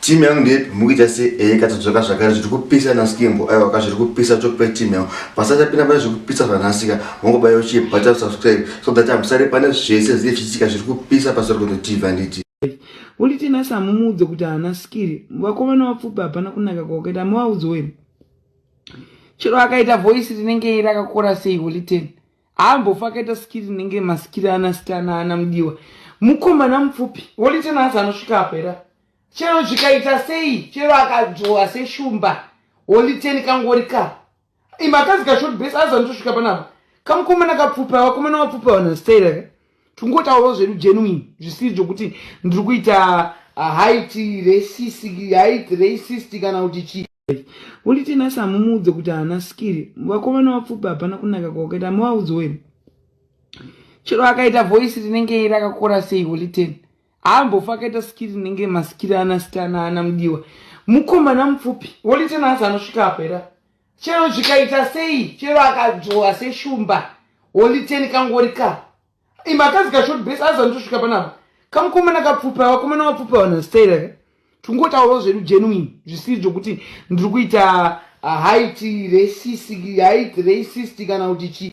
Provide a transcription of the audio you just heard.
Team yangu ndepi mukuita se eh katodzoka zvakare zviri kupisa na skimbo aiwa ka zviri kupisa talk pe team yangu pasati apinda pane zviri kupisa zvanasika mongobaya uchi bata subscribe so that I'm sorry pane zvese zviri chitika zviri kupisa pasori kuno TV anditi Uli tina samu mudzo kuti ana skiri vako vana wapfupa hapana kunaka kwa ukaita mu waudzi wewe Chero akaita voice rinenge irakakora sei Uli tina ambofa akaita sikiri inenge masikiri ana sitana ana mudiwa mukomana mupfupi wolita nazi anosvika apo era chero zvikaita sei chero akadzvowa seshumba woliteni kangori ka imakazi kashort base azanitosvika panapa kamukomana kapfupi avakomana vapfupi avanhu staira ka tingotaurawo zvedu genuine zvisiri zvokuti ndiri kuita ah, height racist height racist kana kuti chii unditi nasi hamumuudze kuti haana skiri vakomana vapfupi hapana kunaka kwakaita muvaudzi wenu chero akaita voice rinenge rakakora sei holiten haambofa akaita skiri rinenge maskiri ana stana ana mudiwa mukomana mupfupi holiten asi anosvika apo era chero zvikaita sei chero akadzvowa seshumba holy ten kangori ka imba akazika short base azanitosvika panapa kamukomana kapfupa vakomana vapfupa vanhu vastayira ka tingotaurawo zvedu genuine zvisiri zvokuti ndiri kuita uh, height racist height racist kana kuti chii